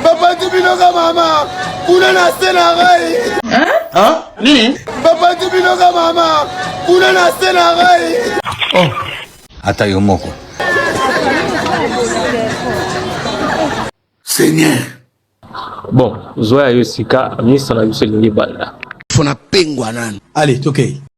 Papa Tibinoka mama, kuna na se na ngai. Hein? Nini? Papa Tibinoka mama, kuna na se na ngai. Oh. Ata yo moko. Seigneur. Bon, zoya yo sika, ministre na biso elingi banda. Fona pengwa nani. Allez, tokei. Okay.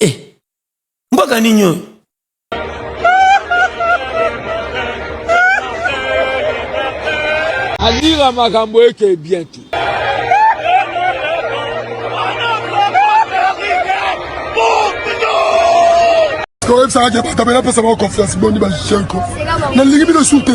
eh, mboka nini oyo alira makambo eke bien te oyebisaka ke batabela apesa bango confiance boni bajien ko nalingi bino su te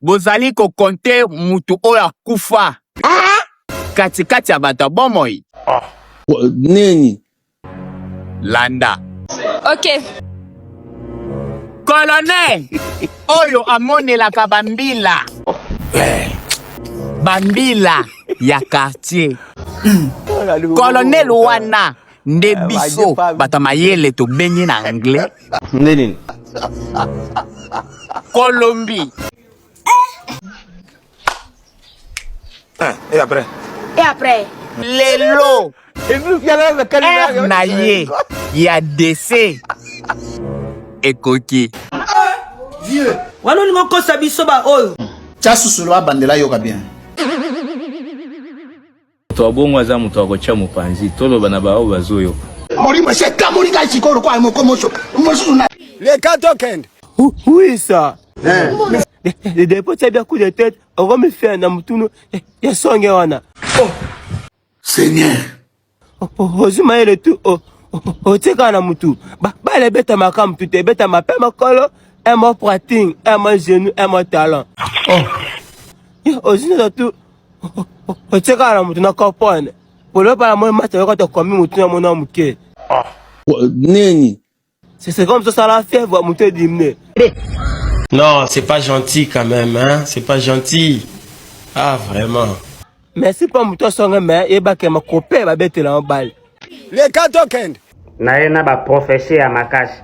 Bozali ko compter mutu oyo akufa kati kati ya bato ya bomoi? Nini? Landa. Ok. Colonel oyo amonelaka ba mbila. Ba mbila ya quartier. Colonel wana. nde eh, biso bato mayele tobengi na anglais nde nini colombie eh, et après et après lelo heure na ye ya dese ekoki vieux wana olingi okosa biso baoyo tya susulu abandela yoka bien Moto wa bongo aza moto wa kotya mopanzi, toloba na baoyo bazoyoka. Molimo esi ekamoli ngai sikoyo lokola moko moso mosusu na leka tokende huisa depo tya bya coup de tete okomifia na motunu ya songe wana seigneur ozwi mayele tu otikala na motu bale ebetamaka motu te ebetama mpe makolo emo prating emo genou emo talent ozwi neza tu otekaka na moto na kopone polopa na moi mata yoko tokomi motu na mona ya moke ah. nini c'est comme tosala fièvre moto edimne non c'est pas gentil quand même hein? c'est pas gentil ah vraiment merci mpo moto asonge me yebakema kope babetela mobali Leka tokende. Na ye na ba prophetie ya makasi.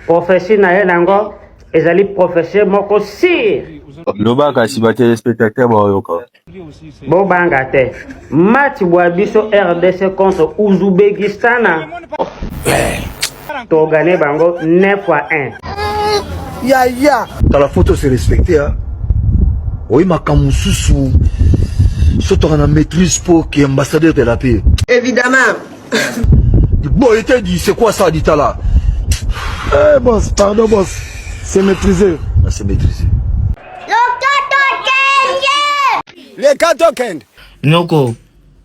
Prophetie na ye nango ezali prophetie moko sire. Loba kasi ba telespectateurs bayoka. Bo banga te. Match bwa biso RDC contre Uzubekistana. To gagner bango 9 fois 1. Ya ya. Tala photo se respecter hein. Oui makambo susu sotoka na maîtrise po ki ambassadeur de la paix. Évidemment. Bon, il t'a dit, c'est quoi ça, dit là Eh, boss, pardon, boss. C'est maîtrisé. Ah, c'est maîtrisé. Le Kato Kend Noko,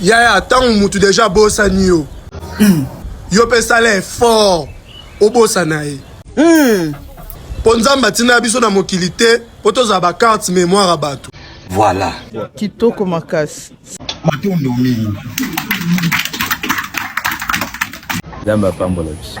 yaya ntango motu deja abosani yo mm. yo mpe sala effort obosana ye mm. mpo nzambe atinda biso na mokili te mpo tozala bacarte mémoire ya bato voilà kitoko makasi matondo mingi nzambe apambola biso